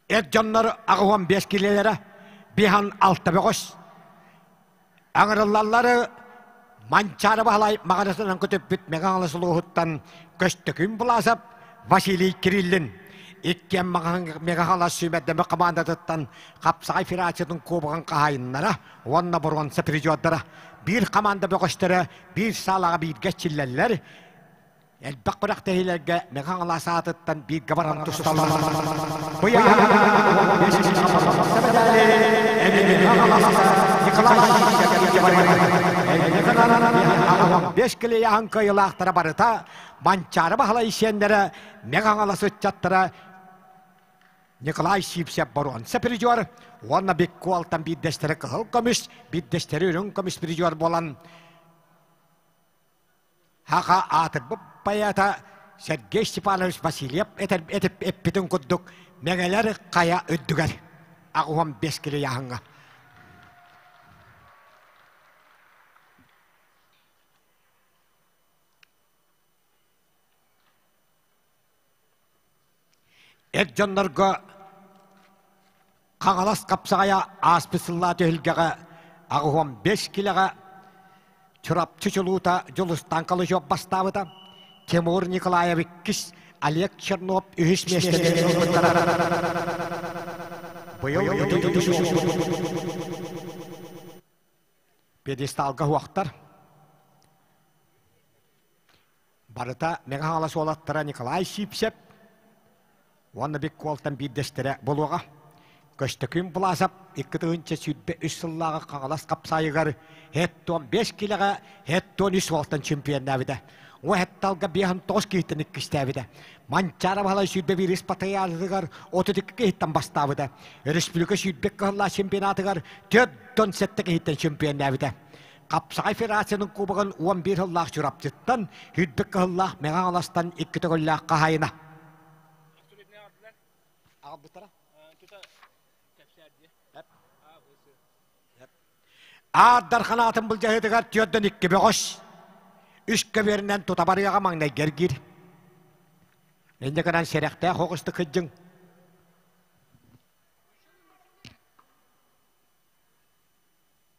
Эр дьоннор аҕыһон биэс килиэлэрэ биһан алта бөҕөс аҥырыллаллары Манчаары Баһылай маҕарасынан көтүппүт Мэҥэ Хаҥалас улууһуттан Көстөкүүн Былаасап Василий Кириллин, иккиэн Мэҥэ Хаҥалас сүүмэрдэмэ хамаандатыттан Хапсаҕай федерациятын куобаҕын хаһаайыннара уонна боруонса призердара, биир хамаанда бөҕөстөрө биир саалаҕа бииргэ иччиллэллэр, элбэх бырахтэһиилэргэ Мэҥэ Хаҥалас аатыттан бииргэ баран тусталар. Быйаһа сэбэдээли эбиги Хаҥаласта Николай Ильичкэ барыйар. Эйгэ гынан аҕам бэс килеяһын кыйылаахтара барыта Манчаары Баһала исиэннэрэ Мэҥэ Хаҥалас ыччаттара Николай Сипсеп Борон сепризер уонна Биккуалтан биирдэстэрэ кыһыл көмүс, биирдэстэрэ үрүҥ көмүс призер буолан Аха аатырбыт поэта Сергей Степанович Васильев этэр этип эппитин курдук Мэҥэлэр хайа үрдүгэр аҕыһым биэс кило яһыҥа Эр дьоннорго Хаҥалас хапсаҕайа ааспыт сыллаа түһүлгэҕэ аҕыһом бэс килэҕэ Чурапчы чулуута Дьулустаан Калычев бастаабыта, Тимур Николаев иккис, Олег Чернов үһүс миэстэлэри ылбыттара. Быйыл ити үһүс буолбут. Пьедесталга уһуохтар. Барыта Мэҥэ Хаҥалас уолаттара Николай Сипсеп уонна Бик Куолтан биирдэстэрэ буолуоҕа. Көстөкүүн Власов икки тыһыынча сүүрбэ үс сыллааҕы Хаҥалас хапсаайыгар һэт-туон биэс килэҕэ һэт-туон үс уолтан чемпионнаабыта. Уо һэтталга биэс он тоҕус киһиттэн иккистээбитэ. Манчаара Баһылай сүүрбэ биир ис патриархатыгар отут икки киһиттэн бастаабыта. Өрөспүүбүлүкэ сүүрбэ кыһыллаах чемпионатыгар төрт он сэттэ киһиттэн чемпионнаабыта. Хапсаҕай федерациятын кубогын уон биир сыллаах Чурапчыттан, үрдүк кыһыллаах Мэҥэ Аҥаластан икки төгөллөөх хаһаайына. Аардар ханаатын былдьаһыытыгар түөрдөн икки бөҕөс. Үс көбүөрүнэн тута барыаҕа маҥнай гэргиир. Инньэ гынан сэрэхтээх хоҕусту кыддьыҥ.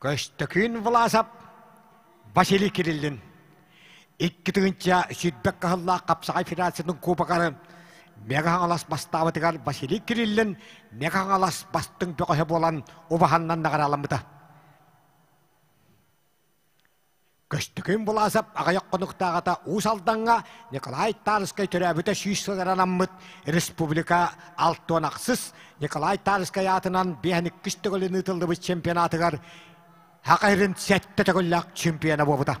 Көстөкүүн Власов Василий Кириллин икки тыһыынча сүүрбэ кыһыллаах Хапсаҕай федерациятын кубогары Мега-Хаҥалас бастаабытыгар Василий Кириллин Мега-Хаҥалас бастыҥ бөҕөһө буолан убаһаннан наҕарааламмыта. Көстүкүн Буласов аҕайах хонуктааҕыта Уус Алдаҥҥа Николай Тарскай төрөөбүтэ сүүс сылыгар анаммыт республика алтыан ахсыс Николай Тарскай аатынан биэхиниккис төгүлүн ыытыллыбыт чемпионатыгар һака иһирин сэттэ төгүллээх чемпиона буолбута.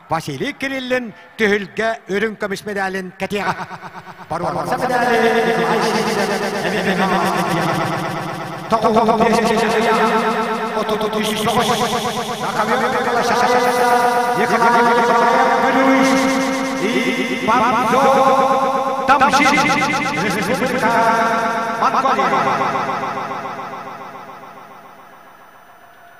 Василий Кириллин түһүлгэ үрүҥ көмүс медалин кэтиэҕэ. Боруоса Монголия.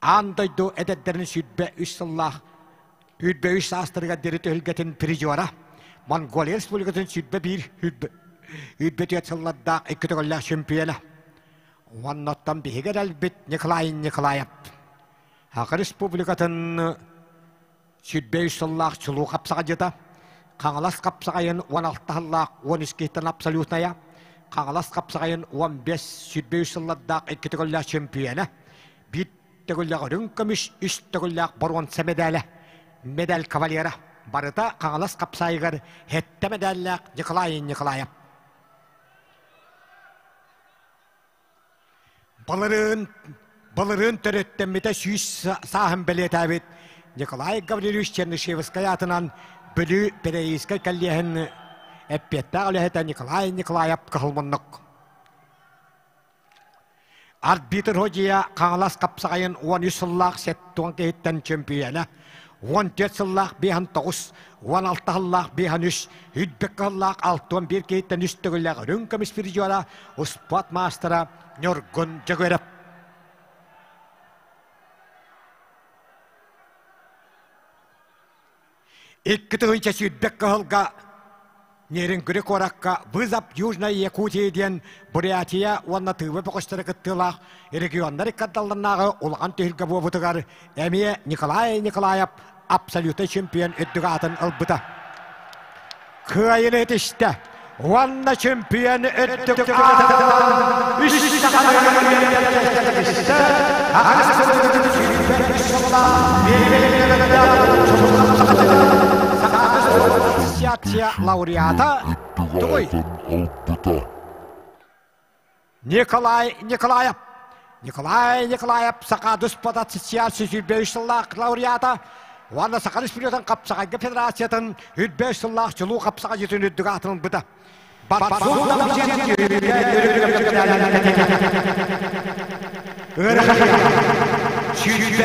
аан дойду эдэрдэрин сүүрбэ үс сыллаах үүрбэ үс саастарыгар диэри түһүлгэтин призера Монголия Республикатын сүүрбэ биир үүрбэ түөрт сыллардаах икки төгүллээх чөмпүйүөнэ уонна оттон биһиги эрэлбит Николай Николаев Аҕа Республикатын сүүрбэ үс сыллаах чулуу хапсаҕадьыта, Хаҥалас хапсаҕайын уон алта сыллаах уон искиһиттэн абсолютная, Хаҥалас хапсаҕайын уон бес сүүрбэ үс сыллардаах икки төгүллээх чөмпүйэнэ, биир төгүллээх үрүҥ көмүс, үс төгүллээх боруонса мэдээлэ, медаль кавалера, барыта Хаҥалас хапсаайыгар сэттэ мэдээллээх Николай Николаев. Балырыын, балырыын төрүттэммитэ сүүс сааһын бэлиэтээбит Николай Гаврильевич Чернышевскай аатынан Бүлүү переизскай коллеһын эппиэттээх үлэһитэ Николай Николаев кыһыл муннук. Арбитр Ходия Хаҥалас хапсаҕайын уон үс сыллаах сет туон киһиттэн чөмпүйэлэ Уон түөрт сыллаах биэһин тоҕус уон алта сыллаах биэһин үс үрбэккэ сыллаах алты уон биир киһиттэн үс төгүллээх үрүҥ көмүс призера успуот маастара Ньургун Дьөгүрэп. Икки тыһыынча сүүрбэккэ сылга Нерюнгри куоракка Вызов Южная Якутии диэн Бурятия уонна Тыва бөҕөстөрө кыттыылаах регионнар иккардалларынааҕы улахан түһүлгэ буолбутугар эмиэ Николай Николаев абсолютный чемпион үрдүк аатын ылбыта. Кыайыны итистэ уонна чемпион үрдүк аатын үс istэ лекция лауреата тугуй? Николай Николаев Николай Николаев саха дуспата социал сүсүүрбэүс сыллаах лауреата уонна Саха Республикатын Хапсаҕайга Федерациятын үрбэүс сыллаах чулуу хапсаҕайытын үрдүк аатын ылбыта. Ыарахай. Сүүрбэ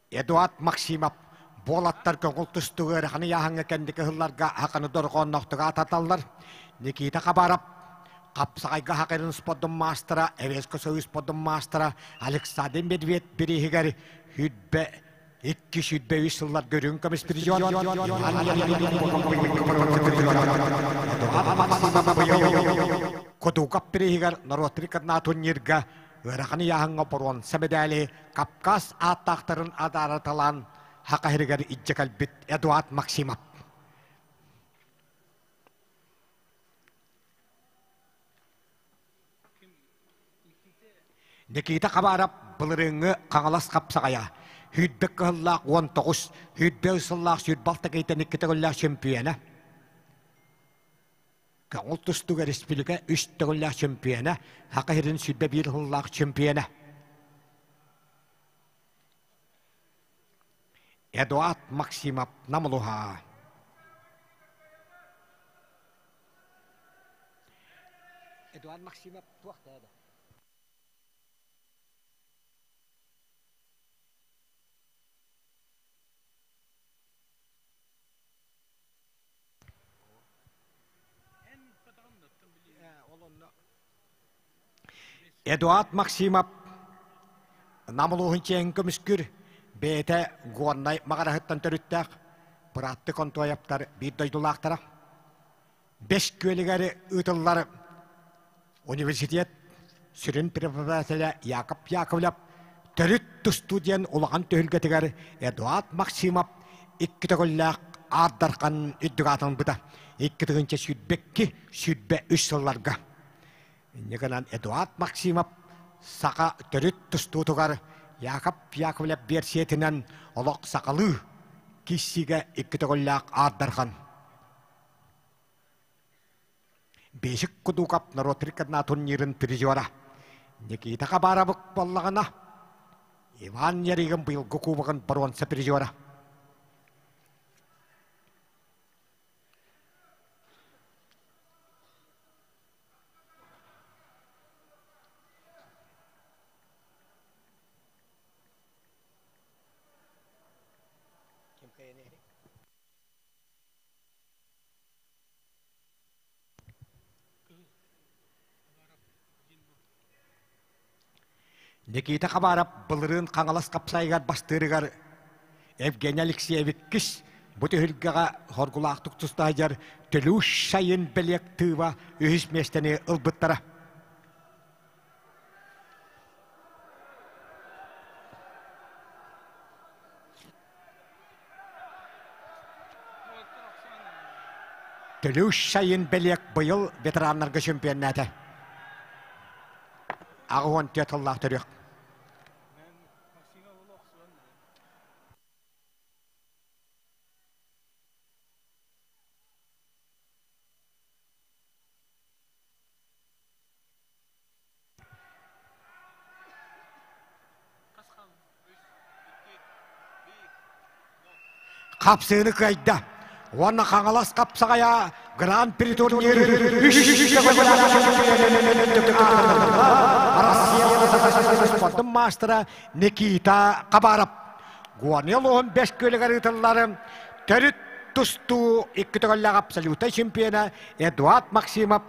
Эдуард Максимов буолаттар көҥүл тустук ыараханы яһаҥҥа кэнники ыһылларга аханы дорҕоонноохтук аататаллар. Никита Хабаров хапсаҕайга хахырын спордун маастара, Эверска союз спордун маастара Александр Медведь бирииһигэр хүрбэ икки сүүрбэ үс сыллар көрүҥ көмүспризион Эдуард Максимов быйыл Кудугап бирииһигэр норуот рекорднаах турнирга ыараханы яһыҥҥа боруон сэбэдээли Кавказ ааттаахтарын адаарыталаан хакаһиригэр иччэ кэлбит Эдуард Максимов Никита Хабаров былырыыҥҥы Хаҥалас хапсаҕайа Хүрбэк кыһыллаах уон тоҕус Хүрбэ сыллаах сүүрбал такыйтан икки төгүллээх чөмпүйэнэ Көҕүл тустуга республика үс төгүллээх чемпиона, Саха сирин сүүрбэ биир сыллаах чемпиона Эдуард Максимов Намылуһаа. Эдуард Максимов туох да Эдуард Максимов Нам улууһун чиэһин көмүскүүр бэйэтэ Горнай Маҕараһыттан төрүттээх Бырааттык Онтуайаптар биир дойдулаахтара. Бэс күөлүгэр ыытыллар университет сүрүн преподавателэ Яков Яковлев төрүт тустуу диэн улахан түһүлгэтигэр Эдуард Максимов икки төгүллээх аардархан үрдүк аатын ылбыта. Икки тыгынча сүүрбэкки сүүрбэ үс сылларга. Иннигынан Эдуард Максимов саха төрүт тустуутугар Яков Яковлев биэрсиэтинэн олох сахалыы киссигэ икки төгүллээх аардархан. Бешик Кудуков норуот рекордна турнирын призера Никита Хабаровых буоллаҕына, Иван Яригин быйылгы кубогын бронза призера. Никита Хабаров былырыын Хаҥалас хапсайыгар бастыырыгар Евгений Алексеевиккис бу түһүлгэҕэ хоргулаахтык тустаһыдьар Төлүш Шайын бэлиэ актыыба үһүс миэстэни ылбыттара. Төлүш сайын бэлиэк быйыл ветераннарга чемпионнаата. Аҕа уон түөрт тыллаах төрүөх. Хапсыыны кыайда уонна Хаҥалас Хапсаҕайа Гран-при турнир үс спордун маастара Никита Хабаров Гуанил уһун бэс күөлүгэр ыытылларын төрүт тустуу икки төгүллээх абсолюта чемпиона Эдуард Максимов